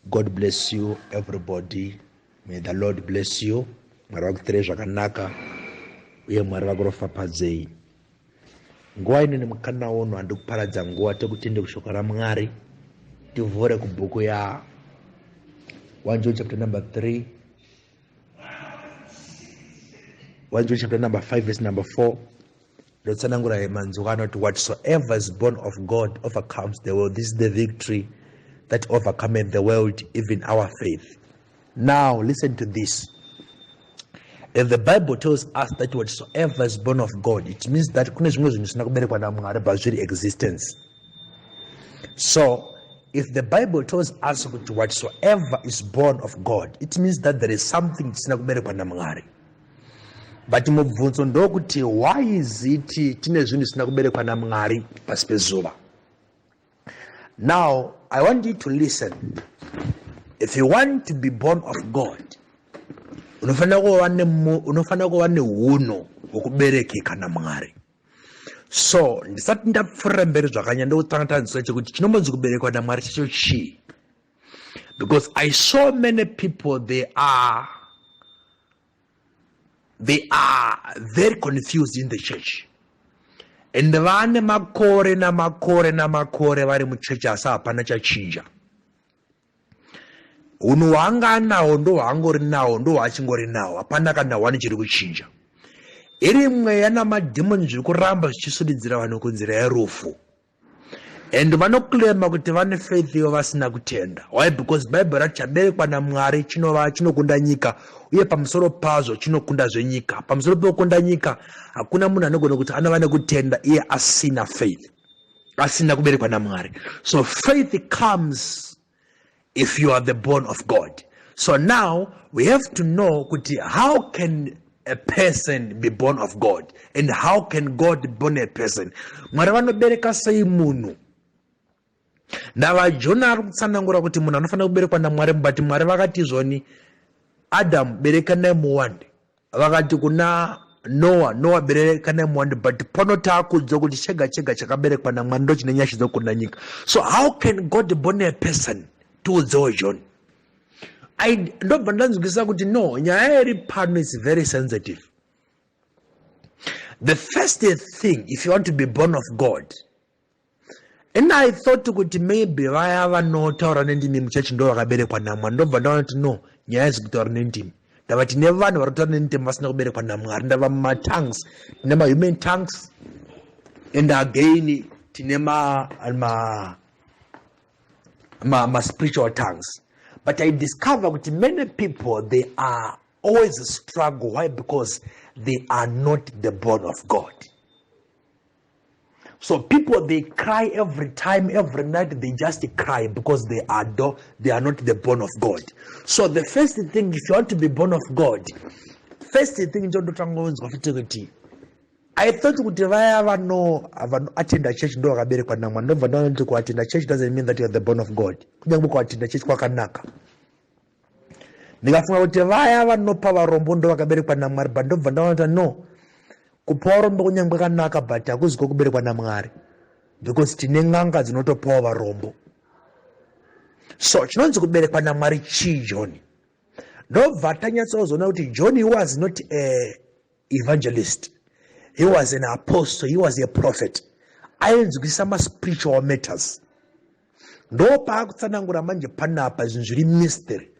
god bless you everybody may the lord bless you mwari vakuitirei zvakanaka uye mwari vakuropfapadzei nguva ino nemukana uno handi kuparadza nguva tekutende kushoko ramwari tivhure kubhuku ya 1 john chapter number 3 1 john chapter number 5 verse number 4 ndotsanangura manzwi anoti whatsoever is born of god overcomes the world this is the victory that overcometh the world even our faith now listen to this if the bible tells us that whatsoever is born of god it means that kune zvimwe zvinhu zvisina kuberekwa namwari but zviri existence so if the bible tells us kuti whatsoever is born of god it means that there is something chisina kuberekwa namwari but mubvunzo ndokuti why is it tine zvinhu zvisina kuberekwa namwari pasi pezuva now i want you to listen if you want to be born of god unofanira kuva unofanira kuva neunhu hwokuberekeka namwari so ndisati ndapfuurira mberi zvakanyanya ndokutanga tanzisa chekuti chinombonzi kuberekwa namwari chacho chii because i saw many people they are they are very confused in the church and vane makore namakore namakore vari muchechi asi hapana chachinja hunhu hwaanga anawo ndo hwaangori nawo ndo hwaachingori nawo hapana kana hwani chiri kuchinja iri mweya namadhimoni zviri kuramba zvichisudidzira vanhu kunzira yerufu and vanoclaima kuti vane faith ivo vasina kutenda why because bible rati chaberekwa namwari chinova chinokunda nyika uye pamusoro pazvo chinokunda zvenyika pamusoro pekukunda nyika hakuna munhu anogona kuti anova nekutenda iye asina faith asina kuberekwa namwari so faith comes if you are the born of god so now we have to know kuti how can a person be born of god and how can god born a person mwari vanobereka sei munhu ndavajona ari kutsanangura kuti munhu anofanira kuberekwa namwari mubati mwari vakati zvoni adamu berekanai muwande Vakati kuna Noa, Noa bereka nemwando but pano taakuudzwa kuti chega chega chakaberekwa namwari ndochine nyasha dzokunda nyika. So how can God born a person tiudzewo John? I ndobva ndanzwisisa kuti no nyaya iri pano is very sensitive. The first thing if you want to be born of God and i thought kuti maybe vaya vanotaura nendimi muchechi ndo vakaberekwa namwari ndobva ndaona kuti no nyaya haizi kutaura nendimi ndava tine vanhu vari kutaura nendimi vasina kuberekwa namwari ndava mumatanks tine mahuman tanks and again tine ma, ma, ma, ma spiritual tanks but i discover kuti many people they are always struggle why because they are not the born of god so people they cry every time every night they just cry because they are do, they are not the born of god so the first thing if you want to be born of god first thing ndondotanga kunzwa futi kuti i thought kuti vaya vano vanoatenda church ndo vakaberekwa namwa ndobva ndaona kuti kuatenda church doesn't mean that youare the born of god kunyange kuatenda church kwakanaka ndikafunga kuti vaya vanopa varombo ndo vakaberekwa namwari but ndobva ndaona kuti no kupa varombo kunyange kanaka but hakuzi kokuberekwa namwari because tine n'anga dzinotopawo varombo so chinonzi kuberekwa namwari chii johni ndobva tanyatsozoona kuti johni was not a evangelist he was an apostle he was a prophet ainzwisa maspiritual matters ndo paakutsanangura manje panapa zvinhu zviri mystery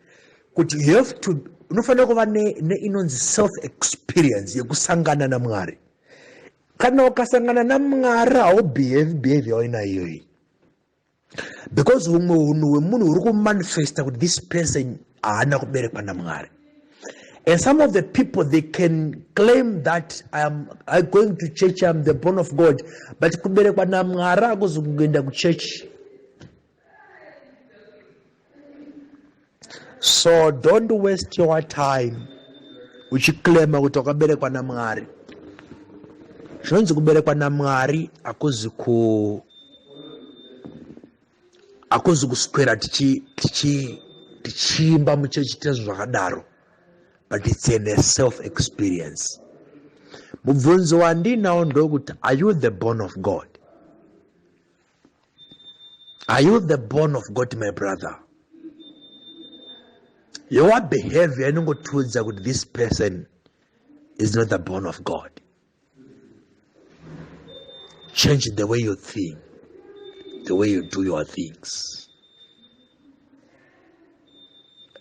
kuti you have to unofanira kuva neinonzi ne self experience yekusangana namwari kana ukasangana namwari haubehavi behavi yawainaiyoyi because humwe hunhu hwemunhu huri kumanifesta kuti this person haana kuberekwa namwari and some of the people they can claim that iam i going to church iam the born of god but kuberekwa namwari akuzi kungoenda kuchechi so don't waste your time uchiclaima kuti wakaberekwa namwari zvinonzi kuberekwa namwari hakuzi ku hakuzi kuswera tichiimba muchechi tezvo zvakadaro but it's in a self experience mubvunzo wandinawo ndokuti are you the born of god Are you the born of God, my brother? Your behavior inongotiudza kuti this person is not the born of God. Change the way you think, the way you do your things.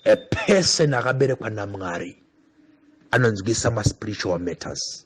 A person akaberekwa naMwari anonzwisa maspiritual matters.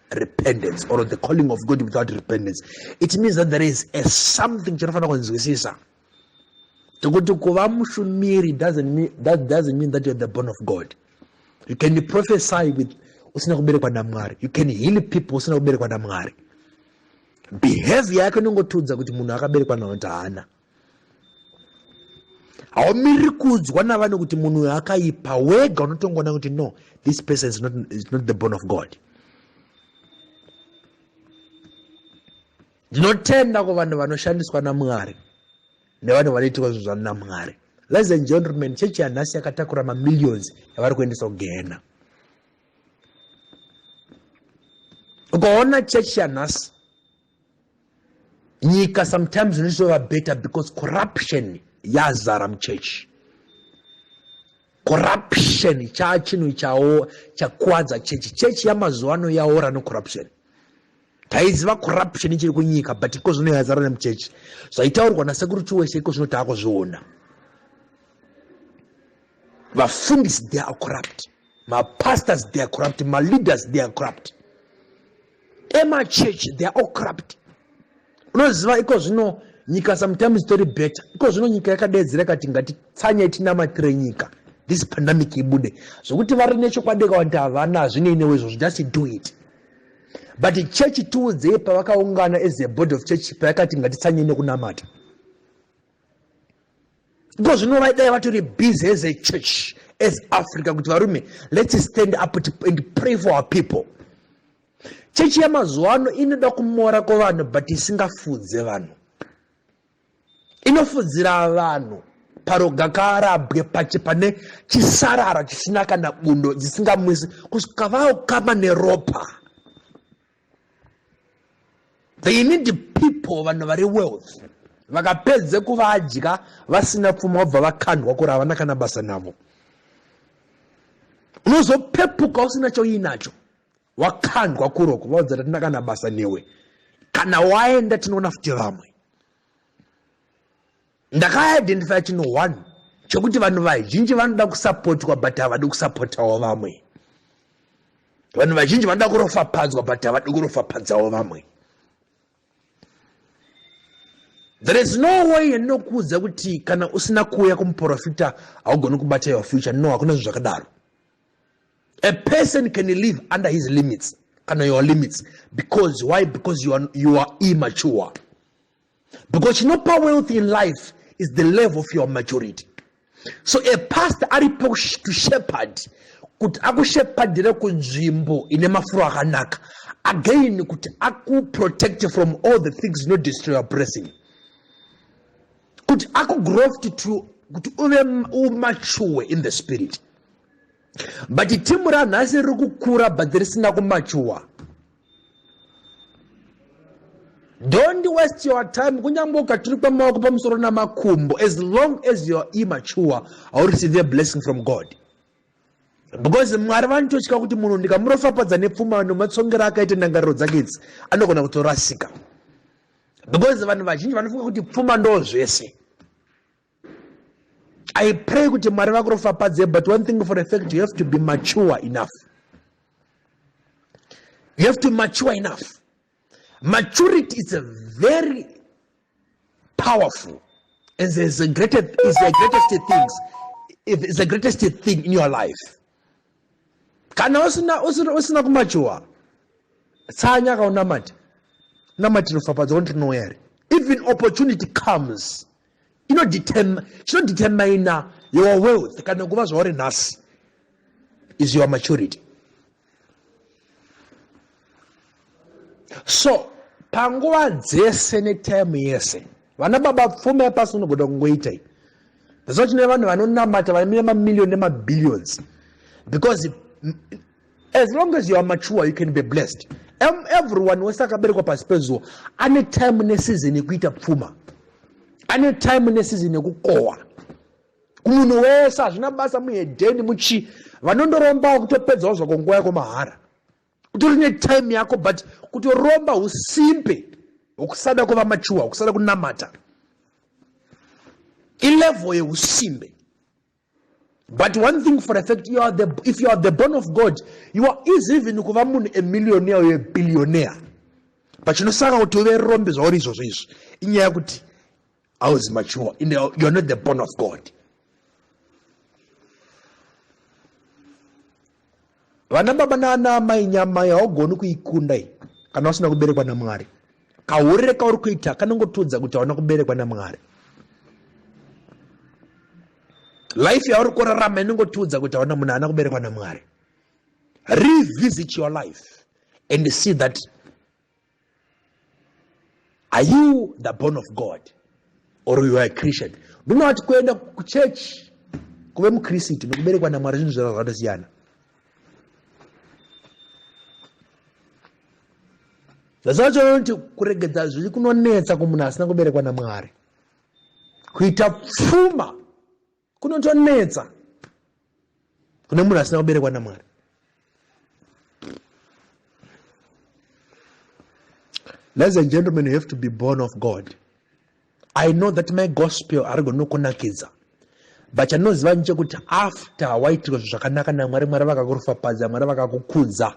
repentance or the calling of god without repentance it means that there is a something chinofanira kunzwisisa tokuti kuva mushumiri doesn't mean, that doesn't mean that you're the born of god you can prophesy with usina kuberekwa namwari you can heal people usina kuberekwa namwari behavior yake inongotiudza kuti munhu akaberekwa nawo kuti haana haumiriri kuudzwa navanhu kuti munhu uyo akaipa wega unotongoona kuti no this person is not, is not the born of god ndinotenda kuvanhu vanoshandiswa namwari nevanhu vanoitirwa zvinhu zvanu namwari ladies and gentlemen chechi yanhasi yakatakura mamillions yavari kuendesa kugehena ukaona chechi yanhasi nyika sometimes inotova better because corruption yazara muchechi corruption chaa chinhu chawo chakwadza chechi chechi yamazuva ano yaora necorruption taiziva corruption ichiri kunyika but iko zvino yazara nemuchechi zvaitaurwa nasekuru chiwese iko zvino taakuzviona vafundisi they are corrupt mapastors they are corrupt maleaders they are corrupt emachurch they are all corrupt unoziva iko zvino nyika sometimes itori better iko zvino nyika yakadeedzera ikati ngatitsanye tinamatire nyika this pandemic ibude zvokuti vari nechokwadi kawati havana hazvinei newe izvozvo just do it but church tiudzei pavakaungana as a body of church payakati ngatitsanye nekunamata because zvino vaidai vatori busy as a church as africa kuti varume let's stand up and pray for our people chechi yamazuva ano inoda kumora kwevanhu but isingafudze vanhu inofudzira vanhu paroga kaarabwe pachi pane chisarara chisina kana bundo dzisingamwisi kusvika vaokama neropa they need people vanhu vari wealth vakapedze kuvadya vasina pfuma vobva vakandwa kuri havana kana basa navo unozopepuka usina choinacho wakandwa kuroko vaudza kuti hatina kana basa newe kana waenda tinoona futi vamwe ndakaidentifya chinhu one chokuti vanhu vazhinji vanoda kusapotwa but havadi kusapotawo vamwe vanhu vazhinji vanoda kurofapadzwa but havadi kurofapadzawo vamwe there is no way yandinokuudza kuti kana usina kuuya kumuprofita haugoni kubata your future no hakuna zvinhu zvakadaro a person can live under his limits kana your limits because why because you are, you are immature because chinopa wealth in life is the level of your maturity so a past ari to shepherd kuti akushepherdire kunzvimbo ine mafuro akanaka again kuti akuprotect from all the things no destroy your blessing kuti akugrowth to kuti uve umature in the spirit but timu ranhasi riri kukura but risina kumachuwa don't waste your time kunyange ukaturikwa maoko pamusoro namakumbo as long as youare immature haureceive a blessing from god because mwari vanototya kuti munhu ndikamurofapadza nepfuma nematsongero akaita ndangariro dzake idzi anogona kutorasika because vanhu vazhinji vanofunga kuti pfuma ndo zvese i pray kuti mwari vakurofapadze but one thing for a fact you have to be mature enough you have to mature enough maturity is a very powerful and is the greatest, is the greatest things is the greatest thing in your life kana usina usina, usina kumachuwa tsanya kaunamati namatinofapadza wontinowere even opportunity comes chinodetermina your wealth kana kuva zvauri nhasi is your maturity so panguva dzese netime yese vana baba pfuma yapasi unogona kungoita i that's why tine vanhu vanonamata vamire mamillion nemabilions because As long as you are mature you can be blessed. Em, everyone wese akaberekwa pasi pezuva ane time neseason yekuita pfuma, ane time neseason yekukohwa. Kumunhu wese hazvina basa muhedheni muchi vanondorombawo kutopedzawo zvako nguva yako mahara. Utori netime yako but kutoromba usimpe hwekusada kuva mature, hwekusada kunamata ilevel yeusimbe but one thing for a fact you are the, if you are the born of god you are easy even kuva munhu a millionaire or a billionaire pachinosaka kuti uve rombe zvauri izvozvo izvi inyaya yekuti auzi mature youare not the born of god Vana baba nana amai nyama yaugoni kuikunda iyi kana usina kuberekwa namwari kaurire kauri kuita kanongotiudza kuti hauna kuberekwa namwari life yauri kurarama inongotiudza kuti hauna munhu haana kuberekwa namwari revisit your life and see that are you the born of god or you are a christian do not kuenda kuchechi kuve mukristu nekuberekwa namwari zvinhu zvava zvatosiyana zvasachoonti kuregedza zviri kunonetsa kumunhu asina kuberekwa namwari kuita pfuma kunotonetsa kune munhu asina kuberekwa namwari ladies and gentlemen you have to be born of god i know that my gospel arigoni nokunakidza but chandinoziva ni chekuti after waitirwa zvinhu zvakanaka namwari mwari vakakurofapadza mwari vakakukudza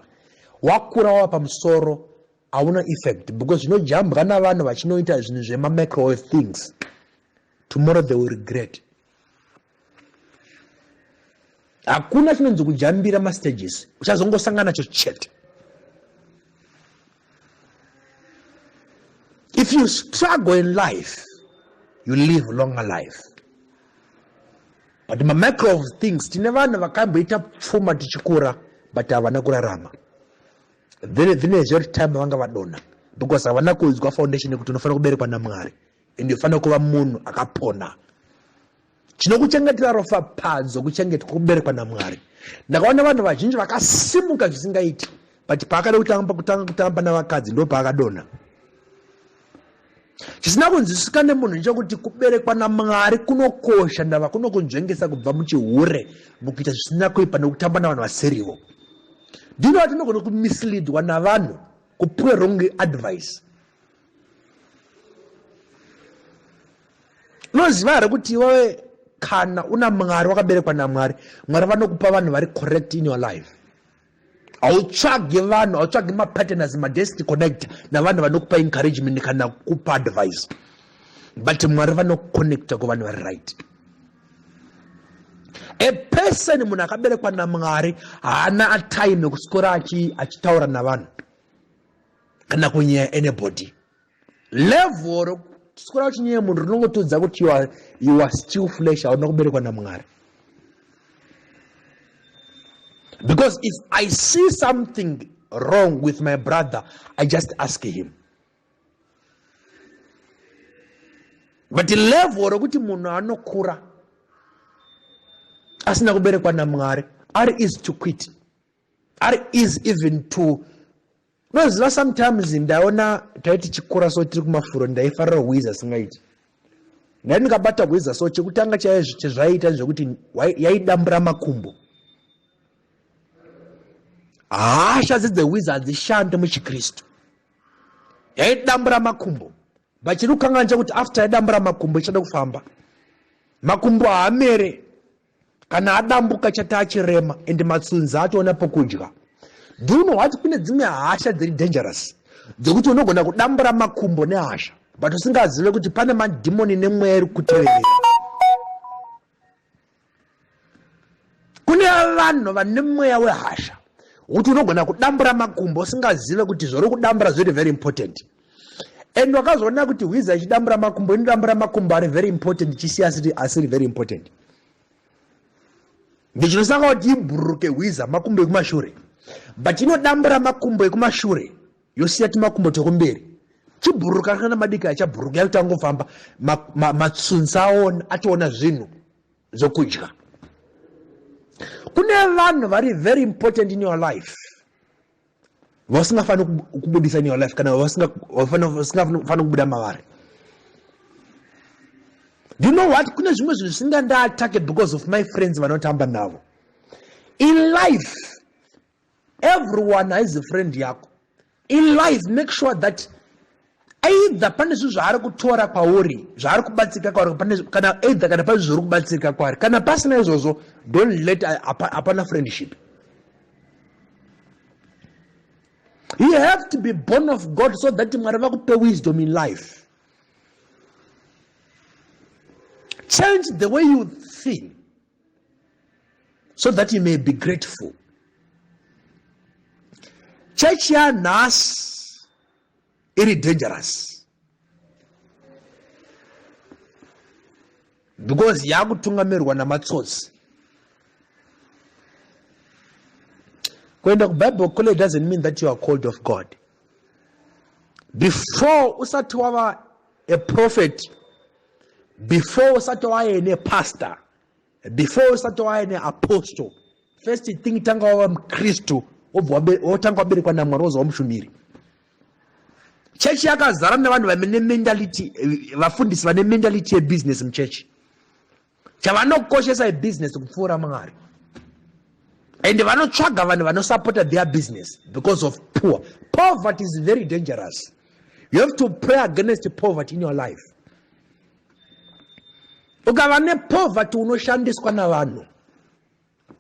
wakura wava pamusoro hauna effect because zvinojambwa navanhu vachinoita zvinhu zvemamicrowave things Tomorrow they will regret. Hakuna chinonzi kujambira mastages, uchazongosangana nacho chete. If you struggle in life, you live a longer life. But macro of things, tine vanhu vakamboita pfuma tichikura but havana kurarama. Then, then is your time vanga vadona because havana kuudzwa foundation yekuti unofanira kuberekwa naMwari. ende ufanira kuva munhu akapona chinokuchengetera rofa padzo kuchengetwa kuberekwa namwari ndakaona vanhu vazhinji vakasimuka zvisingaiti but paakada kutamba kutanga kutamba navakadzi ndo paakadonha chisina kunzwisisika nemunhu ndechokuti kuberekwa namwari kunokosha ndava kunokunzvengesa kubva muchihure mukuita zvisina kuipa nekutamba navanhu vasirivo ndinova tinogona kumislidwa navanhu kupiwe wrong advice unoziva here kuti iwewe kana una mwari wakaberekwa namwari mwari vanokupa vanhu vari correct in your life hautsvagi vanhu hautsvagi mapartners madestiny connector navanhu vanokupa encouragement kana kupa advice but mwari vanoconnecta kuvanhu vari right a person munhu akaberekwa namwari haana atime kuswera achitaura navanhu kana kunyeya anybody level rokutyora uchinyeya munhu rinongotudza kuti you are, you are still flesh hauna kuberekwa namwari because if i see something wrong with my brother i just ask him but level rokuti munhu anokura asina kuberekwa namwari ari easy to quit ari easy even to unoziva sometimes ndaona taiti chikura so tiri kumafuro ndaifarira hwizi asingaiti ndai ndikabata hwiza so chekutanga chezvaiita zvekuti yaidambura makumbo hasha dzedzehwiza hadzishande muchikristu yaidambura makumbo but chiri kukanganisa kuti after yadambura makumbo ichada kufamba makumbo haamere kana adambuka chati achirema and matsunzi atoona pokudya do you know what kune dzimwe hasha dziri dangerous dzekuti unogona kudambura makumbo nehasha but usingazive kuti pane madhimoni nemweya iri kuteverera kune vanhu vane mweya wehasha kuti unogona kudambura makumbo usingazive kuti zvauri kudambura zviri very important and wakazoona kuti hwiza ichidambura makumbo inodambura makumbo ari very important ichisiya asiri, asiri very important ndichinosanga kuti ibhururuke hwiza makumbo ekumashure but inodambura makumbo ekumashure yosiya timakumbo tokumberi chibhururuka kana madiki achabhururuka yakuti angofamba matsunzi ma, ma aona atoona zvinhu zvokudya kune vanhu vari very important in your life vasingafaniri kubudisa in your life kana vasingafaniri kubuda mavari you know what kune zvimwe zvinhu zvisinga ndaatake because of my friends vanotamba navo in life everyone haizi friend yako in life make sure that Aidha pane zvinhu zvaari kutora kwauri zvaari kubatsirika kwauri kana aidha kana pane zvauri kubatsirika kwaari kana pasina izvozvo don't let hapana friendship you have to be born of god so that mwari vakupe wisdom in life change the way you think so that you may be grateful chechi yanhasi iri dangerous because yakutungamirwa namatsotsi kuenda kubible kule doesn't mean that you are called of god before usati wava a prophet before usati waye nepastor before usati wave neapostle first thing tanga wava mukristu wotanga waberekwa namwari wozova mushumiri chechi yakazara nevanhu vane mentality vafundisi vane mentality yebusiness muchechi chavanokoshesa ibusiness kupfuura mwari and vanotsvaga vanhu vanosupporta their business because of poor poverty is very dangerous you have to pray against poverty in your life ukava nepoverty unoshandiswa navanhu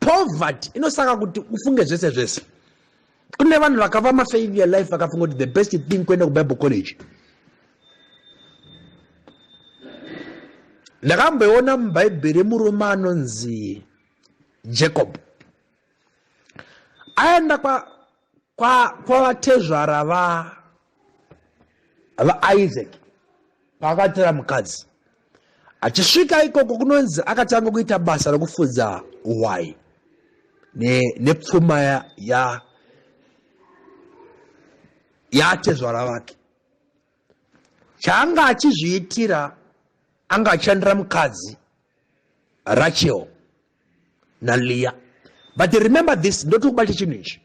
poverty inosaka kuti ufunge zvese zvese kune vanhu vakava mafailure life vakafunga kuti the best thing kuenda kubible college ndakamboiona mubhaibheri murume anonzi jacob aenda kwavatezvara kwa, kwa vaisaac paakatora mukadzi achisvika ikoko kunonzi akatanga kuita basa rekufudza hwai nepfuma ne ya yaatezvara vake chaanga achizviitira anga achishandira mukadzi rachel naliya but remember this ndotokubata chinhu ichi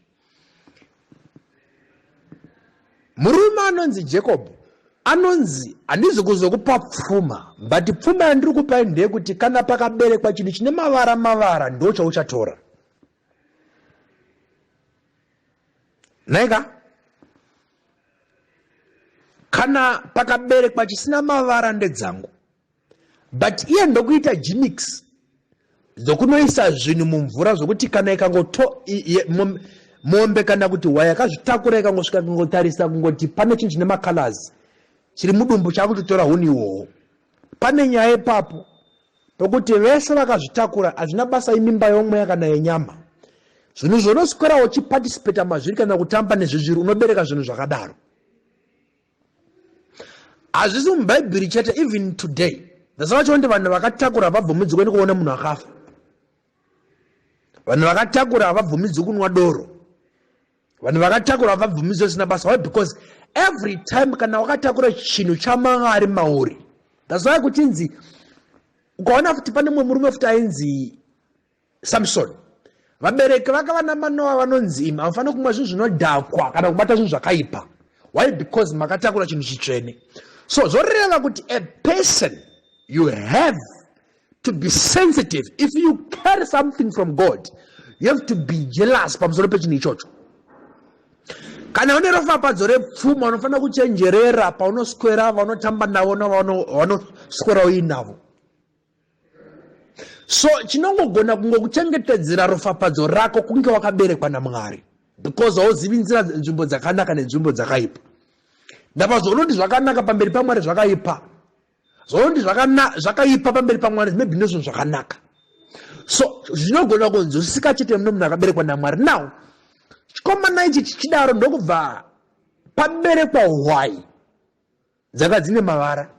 murume anonzi jacob anonzi handizi kuzokupa pfuma but pfuma yandiri kupai ndeyekuti kana pakaberekwa chinhu chine mavara mavara ndo chauchatora naika kana pakaberekwa chisina mavara ndedzangu but iye ndokuita gimix dzokunoisa zvinhu mumvura zvokuti kana ikangoto mombe kana kuti hwaya yakazvitakura ikangosvika kungotarisa kungoti pane chinhu chine macolors chiri mudumbu chaakutotora huni iwowo pane nyaya ipapo pokuti vese vakazvitakura hazvina basa imimba yomweya kana yenyama zvinhu zvonoswera uchipatisipeta mazviri kana kutamba nezvezviri unobereka zvinhu zvakadaro hazvisi mubhaibheri chete even today nhasi vacho ndi vanhu vakatakura havabvumidzwi kuenda kuona munhu akafa vanhu vakatakura havabvumidzwi kunwa doro vanhu vakatakura havabvumidzwi zvisina basa why because every time kana wakatakura chinhu chamwari mauri that's why kuchinzi ukaona futi pane mumwe murume futi ainzi samsoni vabereki vaka vana manoa vanonzi imi hamufaniri kumwa zvinhu zvinodhakwa kana kubata zvinhu zvakaipa why because makatakura chinhu chitsvene so zvoreva kuti a person you have to be sensitive if you carry something from god you have to be jealous pamusoro pechinhu ichocho kana une rofapadzo repfuma unofanira kuchenjerera paunoswera vanotamba navo navanoswera uinavo so chinongogona kungokuchengetedzera rofapadzo rako kunge wakaberekwa namwari because hauzivi nzira nzvimbo dzakanaka nenzvimbo dzakaipa ndapazvaunoti zvakanaka pamberi pamwari zvakaipa zvaunoti zvakaipa pamberi pamwari maybe ndozvinhu zvakanaka so zvinogona kunzwisisika chete mune munhu akaberekwa namwari now chikomana ichi chichidaro ndokubva paberekwa hwai dzanga dzine mavara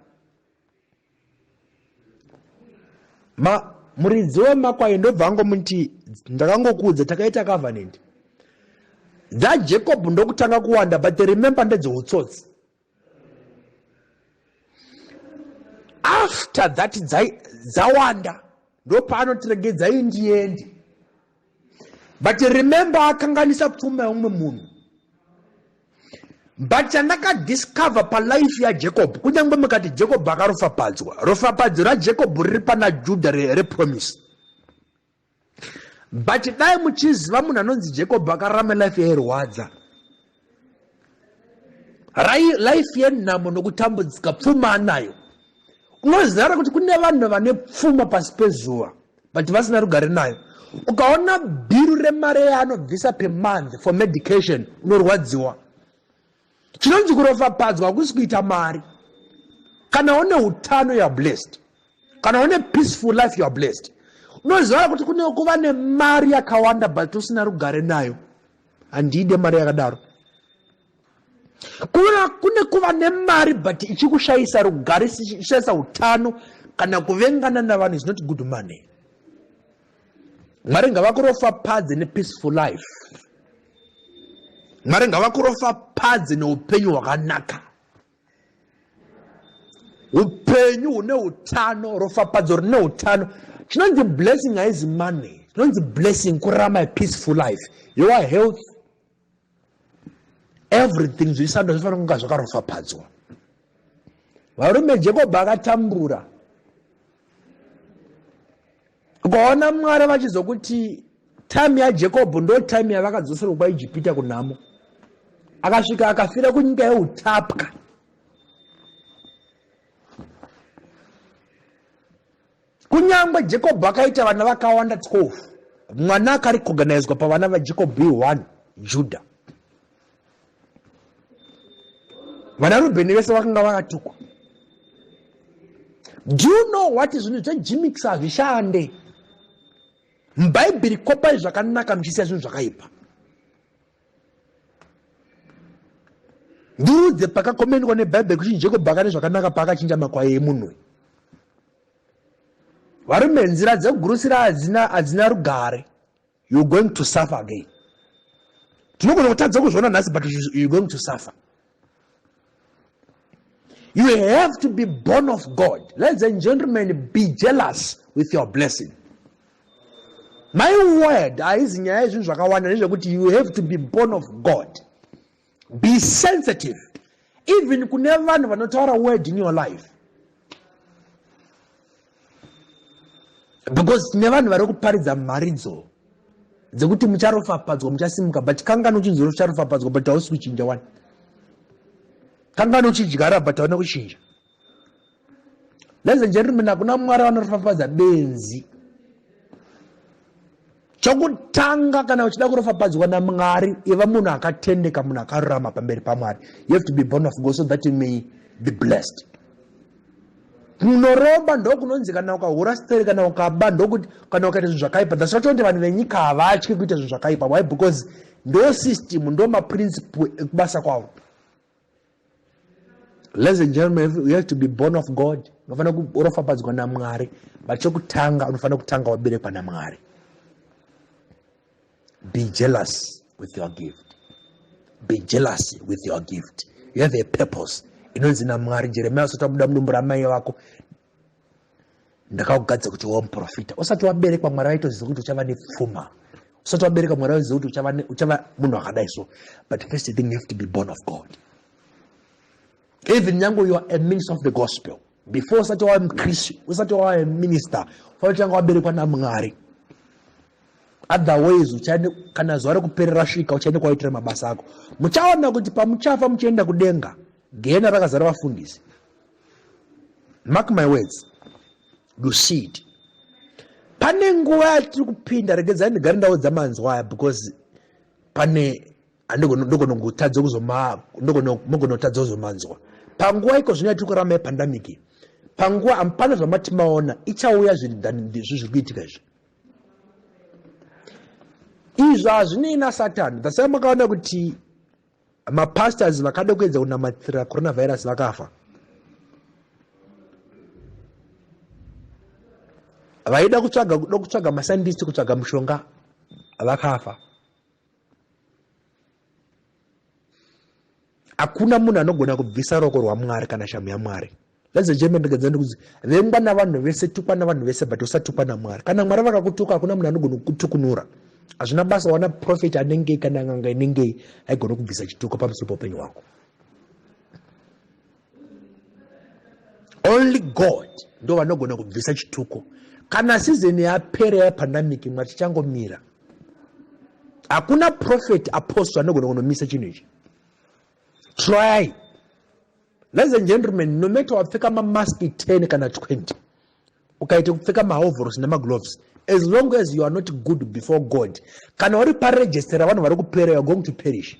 ma muridzi wemakwayo ndobva angomuti ndakangokuudza takaita covenant dzajacob ndokutanga kuwanda but remember ndedzeutsotsi after that dzawanda ndopaanotiregedzai ndiende but remember akanganisa pfuma yeumwe munhu but chandakadiscover palife yajacob kunyange mukati jacob akarofapadzwa rofapadzo rajacob riri pana judha repromise re but dai muchiziva munhu anonzi jacob akararama life yairwadza life yenhamo nokutambudzika pfuma anayo unoziva ra kuti kune vanhu vane pfuma pasi pezuva but vasina rugare nayo ukaona biru remari yaanobvisa per month for medication unorwadziwa chinonzi kuropafadzwa hakusi kuita mari kana une utano youare blessed kana une peaceful life youare blessed unoziva kuti kune kuva nemari yakawanda but usina rugare nayo handide mari yakadaro kuva kune kuva nemari but ichikushayisa rugare ichishayisa utano kana kuvengana navanhu is not good money mwari ngavakurofa padze nepeaceful life mwari ngavakurofa padze neupenyu hwakanaka upenyu hune utano rofapadzo rine utano chinonzi blessing haizi money chinonzi blessing kurarama a peaceful life your health everything zvisando zvifanira kunga zvakarofapadzwa varume jacob akatambura ukaona mwari vachizokuti time yajekobho ndo time yavakadzoserwa kwaijipita kunhamo akasvika akafira kunyika yeutapwa kunyange jekobho akaita vana vakawanda 12 mwana akaricoganizwa pavana vajekobho i1 judah vana rubheni vese vakanga vakatukwa do you know what zvinhu zvejimix hazvishande mubhaibheri kopai zvakanaka muchisiya zvinhu zvakaipa ndiudze pakakomendwa nebhaibheri kuti njeko bhaka nezvakanaka paakachinja makwai emunhu varume nzira dzekugurusira hadzina rugare you're going to suffer again tinogona kutadza kuzviona nhasi but you're going to suffer you have to be born of god ladies and gentlemen be jealous with your blessing my word haizi nyaya yezvinhu zvakawanda nezvekuti you have to be born of god be sensitive even kune vanhu vanotaura word in your life because tine vanhu vari kuparidza mharidzo dzekuti mucharopafadzwa muchasimuka but kangani uchinzwa ucharopafadzwa but hausi kuchinja wani kangani uchidyara but hauna kuchinja ladies and gentlemen hakuna mwari vanoropafadza benzi chokutanga kana uchida kuropafadzwa namwari iva munhu akatendeka munhu akarurama pamberi pamwari you have to be born of god so that you may be blessed kunoromba ndokunonzi kana ukahura stere kana ukaba ndokuti kana ukaita zvinhu zvakaipa thats not kuti vanhu venyika havatye kuita zvinhu zvakaipa why because ndo system ndo maprinciple ekubasa kwavo Ladies and gentlemen, you have to be born of God. Unofanira kuropafadzwa naMwari. But chokutanga unofanira kutanga waberekwa naMwari. Be jealous with your gift. Be jealous with your gift. You have a purpose. Inonzi naMwari Jeremiah usati wabuda mudumbu ramai vako ndakakugadza kuti wa muprofita usati waberekwa mwari vaitoziva kuti uchava nepfuma usati wabereka mwari vaitoziva kuti uchava, uchava munhu akadai so but first thing you have to be born of god even nyange you are a minister of the gospel before usati wava mukristu usati wava a minister fanotanga waberekwa namwari otherwise uchaende kana zuva rekuperera svika uchaende kwaitira mabasa ako muchaona kuti pamuchafa muchienda kudenga gehena rakazara vafundisi mark my words dushid pane nguva yatiri kupinda regedzai ndigare ndaudza manzwa aya because pane ndogonongotadza kuzomagonotadza kuzomanzwa panguva iko zvino yatiri kurama yepandamiki panguva amupana zvamati maona ichauya zvinhu zviri kuitika izvi izvo hazvinei nasatani thasai makaona kuti mapastors vakada kuedza kunamatira coronavirus vakafa vaida kutsvaga kuda kutsvaga masandisi kutsvaga mushonga vakafa hakuna munhu anogona kubvisa roko rwamwari kana shamhu yamwari Ladies and gentlemen, ndikadza ndikuti vengwa navanhu vese, tukwa navanhu vese, but usatukwa naMwari. Kana Mwari vakakutuka, hakuna munhu anogona kukutukunura. Hazvina basa wana prophet anengei kana n'anga inengei, haigona kubvisa chituko pamusoro poupenyu hwako. Only God ndo vanogona kubvisa chituko. Kana season yapera yapandemic, Mwari tichangomira. Hakuna prophet, apostle anogona kunomisa chinhu ichi. Try. Ladies and gentlemen, no matter wapfeka mamask 10 kana 20, ukaita kupfeka mahovhorosi nemagloves, as long as you are not good before God, kana uri paregistera vanhu vari kupera, you are going to perish.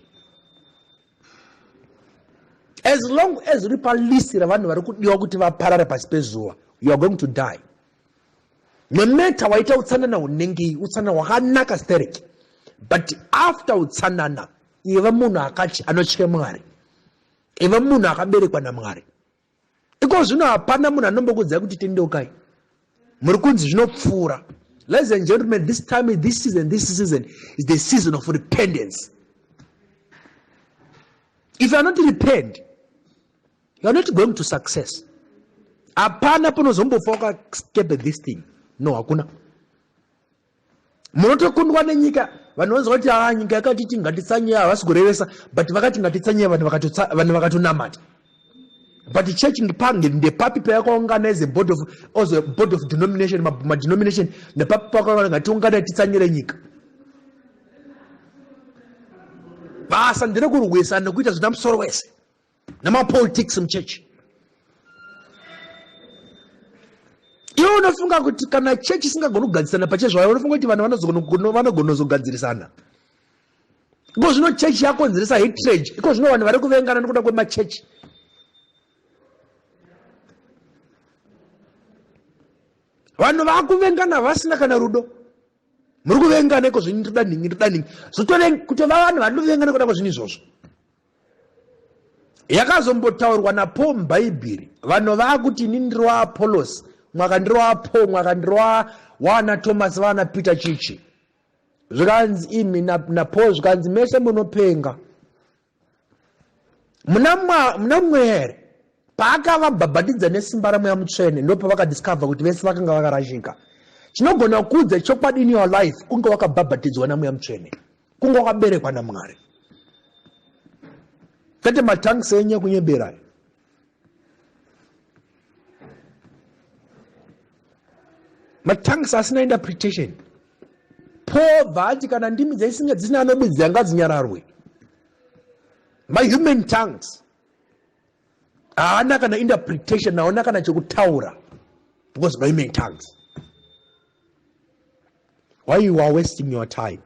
As long as uri palisi ravanhu vari kudiwa kuti vaparare pasi pezuva, you are going to die. No matter waita utsanana hunengei, utsanana hwakanaka stereki. But after utsanana, iva munhu akati anotya Mwari. iva munhu akaberekwa namwari iko zvino hapana munhu anombokudzai kuti tendeukai muri kunzi zvinopfuura ladies and gentlemen this time this season this season is the season of repentance if you are not repent you are not going to success hapana panozombofa wakastepe this thing no hakuna munotokundwa nenyika vanhu vanzwa kuti haa ah, nyika yakati ti ngatitsanye havasi kurevesa but vakati ngatitsanye vanhu vakatonamata but church ndepange ndepapi payakaungana as a board of as a board of denomination madenomination nepapi pakaungana ngatiungana titsanyire nyika basa nderekurwisa nekuita zvina musoro wese nemapolitics muchechi iwe unofunga kuti kana chechi isingagoni kugadzirisana pachezvayo unofunga kuti vanhu vanogonozogadzirisana iko zvino chechi yakonzeresa hitrage iko zvino vanhu vari kuvengana nokuda kwemachechi vanhu vakuvengana vasina kana rudo muri kuvengana iko zvinyi toda nhingi toda nhingi zvotokutovaa vanhu vanovengana kuda kwazvinhu izvozvo yakazombotaurwa napo mubhaibheri vanhu vaakuti ini ndiri waapolosi mwaka ndiri waapo mwaka ndiri waana tomasi vaana peter chichi zvikanzi imi napo zvikanzi mese munopenga muna mweya here paakavabhabhatidza nesimba ramweya mutsvene ndopavakadiscover kuti vese vakanga vakarashika chinogona kuudza chokwadi in your life kunge wakabhabhatidzwa namweya mutsvene kunge wakaberekwa namwari kwete matanks enye kunyeberayo matanks asina interpretation paul bvaati kana ndimi dzaisinga dzisina anobidzi yanga dzinyararwe mahuman tongues haana kana interpretation haona kana chekutaura because mahuman tongues Why you are wasting your time?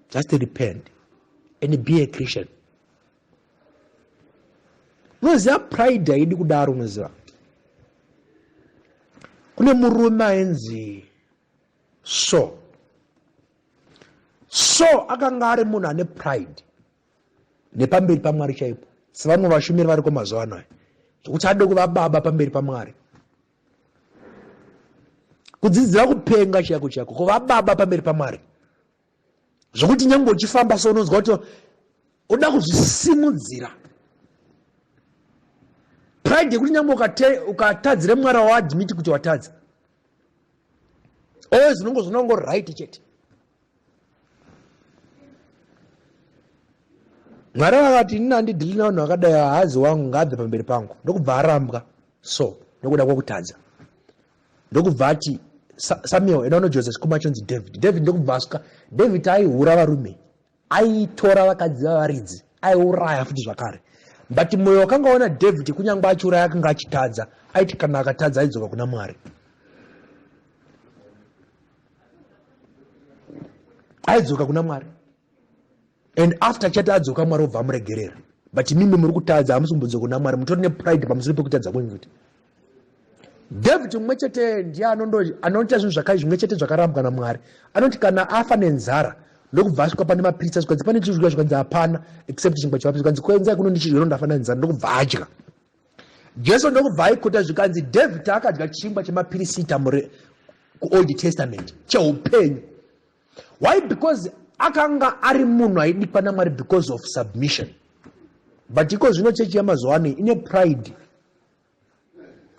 Just repent and be a Christian. Unoziva pride haidi kudaro unoziva. Kune murume ainzi so so akanga ari munhu ane pride nepamberi pamwari chaipo sevamwe vashumiri variko mazuva ano aya zvekuti ade kuva baba pamberi pamwari kudzidzira kupenga chaiko chaiko kuva baba pamberi pamwari zvokuti nyange uchifamba so unonzwa kuti unoda kuzvisimudzira pride yekuti nyange ukatadzira mwari waadmiti kuti watadza always unongo zvinongo right chete mwari vakati ini andidhili navanhu vakadai haazi wangu ngaabve pamberi pangu ndokubva arambwa so nokuda kwokutadza ndokubva ati samuel inono joseph sikuma chonzi david david ndokubva asuka david aihura varume aitora vakadzi vavaridzi aiuraya futi zvakare but mwoyo wakanga waona david kunyange achiuraya akanga achitadza aiti kana akatadza aidzoka kuna mwari aidzoka kuna mwari and after chati adzoka mwari obva amuregerera but mimi muri kutadza hamusi kumbodzoka kuna mwari mutori nepride pamusoro pekutadza kwenyu kuti david mumwe chete ndiye anoita zvinhu zvakai zvimwe chete zvakarambwa namwari anoti kana afa nenzara ndokubva asvika pane mapiritsa zvikanzi pane chizvika zvikanzi hapana except chingwa chemapiritsa zvikanzi kuenzai kuno ndichizvero ndafa nenzara ndokubva adya Jesu ndokubva aikuta zvikanzi David akadya chingwa chemapirisita mure kuOld Testament cheupenyu. Why? Because akanga ari munhu aidikwa naMwari because of submission. But iko zvino chechi yamazuva ano ine pride.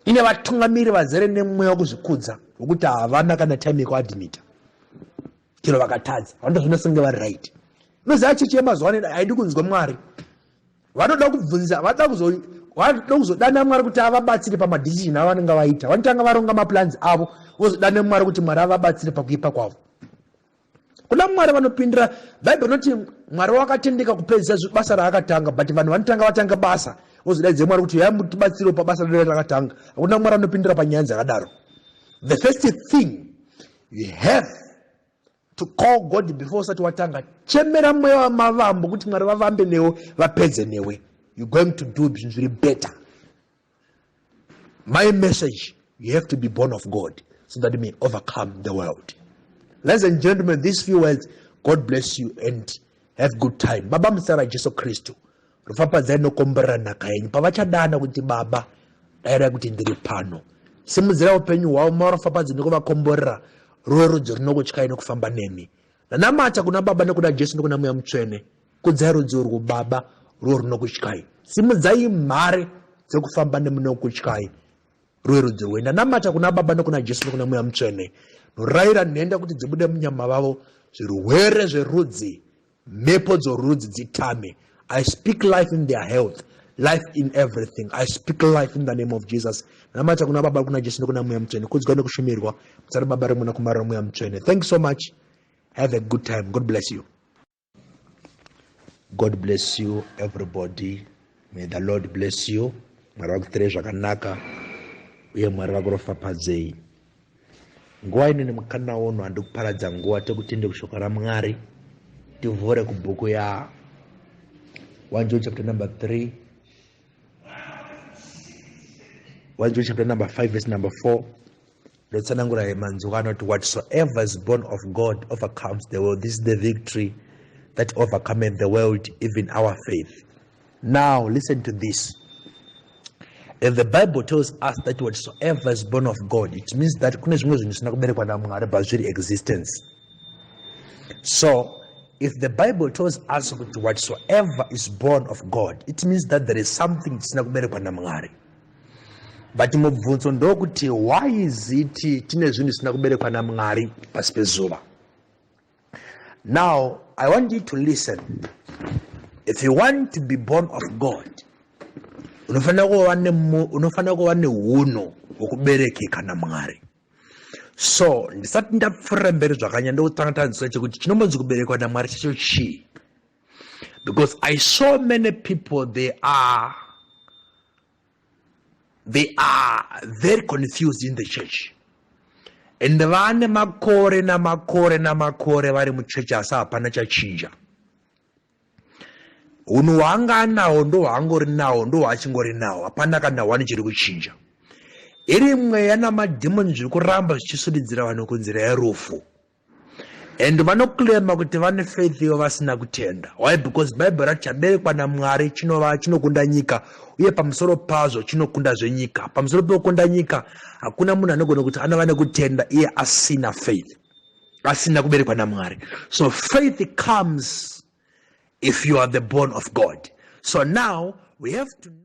Ine vatungamiri vazere nemweya wekuzvikudza wekuti havana kana time yekuadmita. Chero vakatadza, vanoda zvino senge vari right. Unoziva chechi yamazuva ano haidi kunzwa Mwari. vanoda kubvunza vanoda kuzo vanoda kuzodana mwari kuti avabatsire pamadecision avo vanenge vaita vanotanga varonga maplans avo vozodana mwari kuti mwari avabatsire pakuipa kwavo kuna mwari vanopindira bhaibheri rinoti mwari wakatendeka kupedzisa basa raakatanga but vanhu vanotanga vatanga basa vozodaidze mwari kuti yaya mutibatsirewo pabasa rinoe rakatanga hakuna mwari anopindira panyaya dzakadaro the first thing you have To call God before usati watanga chemera mweya wamavambo kuti mwari vavambe newe vapedze newe you going to do zvinhu zviri better my message you have to be born of God so that you may overcome the world ladies and gentlemen these few words God bless you and have good time baba musara Jesu Kristu Rufapadzai nokomborera nhaka yenyu pavachadana kuti baba dairai kuti ndiri pano. Simudzira upenyu hwavo marofapadzi nokuvakomborera ruwe rudzi runokutyai nokufamba nemi. Nanamata kuna baba nokuna Jesu nokuna mweya mutsvene. Kudzai rudzi urwu baba ruwe runokutyai. Simudzai mhare dzokufamba nemi nokutyai ruwe rudzi rwe. Nanamata kuna baba nokuna Jesu nokuna mweya mutsvene. Norayira nhenda kuti dzibude munyama vavo zvirwere zverudzi Mhepo dzorudzi dzitame. I speak life in their health, life in everything. I speak life in the name of Jesus. Namata kuna Baba, kuna Jesu, nekuna Mweya Mutsvene. Kudzwa nekushumirwa. Mutsa raBaba, reMwana, Kumara, reMweya Mutsvene. Thank you so much. Have a good time. God bless you. God bless you everybody. May the Lord bless you. Mwari vakuitirei zvakanaka uye Mwari vakuropafadzei. nguva ino nemukana uno handi kuparadza nguva tekutende kushoko ramwari tivhure kubhuku ya 1 john chapter number 3 1 john chapter number 5 verse number 4 ndotsanangura manzwi anoti whatsoever is born of god overcomes the world this is the victory that overcometh the world even our faith Now listen to this. If the Bible tells us that whatsoever is born of God, it means that kune zvimwe zvinhu zvisina kuberekwa naMwari but zviri existence. So if the Bible tells us kuti whatsoever is born of God, it means that there is something chisina kuberekwa naMwari. But mubvunzo ndokuti why is it tine zvinhu zvisina kuberekwa naMwari pasi pezuva? Now, I want you to listen. If you want to be born of God, unofanira kuva unofanira kuva neuno hwokuberekeka namwari so ndisati ndapfuurira mberi zvakanyanya ndokutanga tanzwisisa chekuti chinombonzi kuberekwa namwari chacho chii because i saw many people they are they are very confused in the church and vane makore namakore namakore vari muchechi asi hapana chachinja hunhu hwaanga anawo ndo hwaangori nawo ndo hwaachingori nawo hapana kana hwani chiri kuchinja iri mweya namadhimoni zviri kuramba zvichisundidzira vanhu kunzira yerufu and vanoclaima kuti vane faith ivo vasina kutenda why because bible rati chaberekwa namwari chinova chinokunda nyika uye pamusoro pazvo chinokunda zvenyika pamusoro pekukunda nyika hakuna munhu anogona kuti anova nekutenda iye asina faith asina kuberekwa namwari so faith comes if you are the born of god so now we have to know